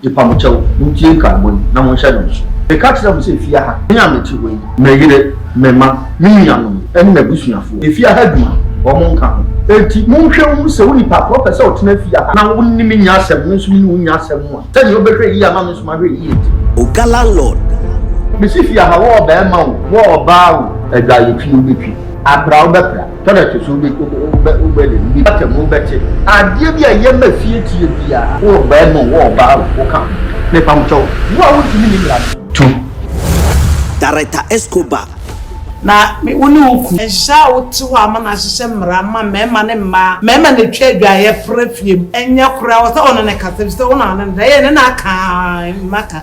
Yepamokyɛw, muntie nkaebɔ yi, na monhyɛ no nsow. Meka kyerɛ mo sɛ efi aha, me a mete hɔ yi, me yere, me mma, me nuanom, ne m'abusuafo, efi aha adwuma, wɔn nka ho. Enti monhwɛ nhu sɛ onipa korɔ pɛ sɛ ɔtena fie aha, na wo ne me nnya asɛm, me nso me ne wo nnya asɛm mu a, sɛnea wobɛhwɛ yiye ama me nso mahwɛ yiye nti. Oga Landlord! Mesi fie aha, wo ɔbarima o, wo ɔbaa o. Adwaye twi wobɛtwi. Apira wobɛpira. Tɔn a ɛto so bi wobɛ wobɛ de bi bata mu wobɛte. Adeɛ bi a ɛyɛ ma fie tie biara. Wo ɔbaa mu wo ɔbaa wo wo ka ho. Mepa mo kyɛw wo a wontumi ni mmara no. To. Director Escobar. Na me wo ne wo ku. Ɛnhyɛ a wote hɔ ama no ahyehyɛ mmara mma mmarima ne mmaa mmarima na ɛtwa adwaeɛ fra fie mu ɛnyɛ koraa wɔ sɛ wo ne no kasa ɛfiri sɛ wo na wo ne no da yɛ ne no aka a mma ka.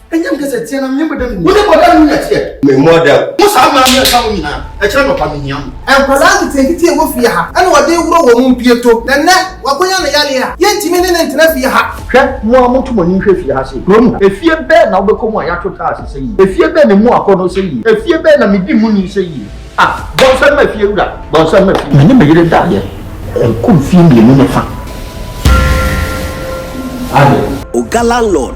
ɛnyɛ mekɛ sɛ teɛ na menyɛ bɔda mu wo ne bɔda mu nyɛ teɛ memmɔ ada mo saa maa me ɛka mo nyinaa ɛkyerɛ nɔpa mehia mo nkwadaa nketenkete a ɛwɔ fie ha ɛna ɔde reworɔ wɔn mpieto na nnɛ wakonya ne yareɛ a yɛntumi ne no ntena fie ha. Hwɛ mo ara moto mo ani nhwɛ fie ha sei, kurom ha efie bɛn na wobɛkɔ mu a yɛato tiles sɛ yie, efie bɛn na ɛmu akɔnnɔ sɛ yie, efie bɛn na medi mu ni sɛ yie. Ah, bɔnsɛm ma fie wura, bɔnsɛm ma fie. Me ne me yere daeɛ, ɛkɔ mfie mmienu ne fa. Ade. Oga landlord.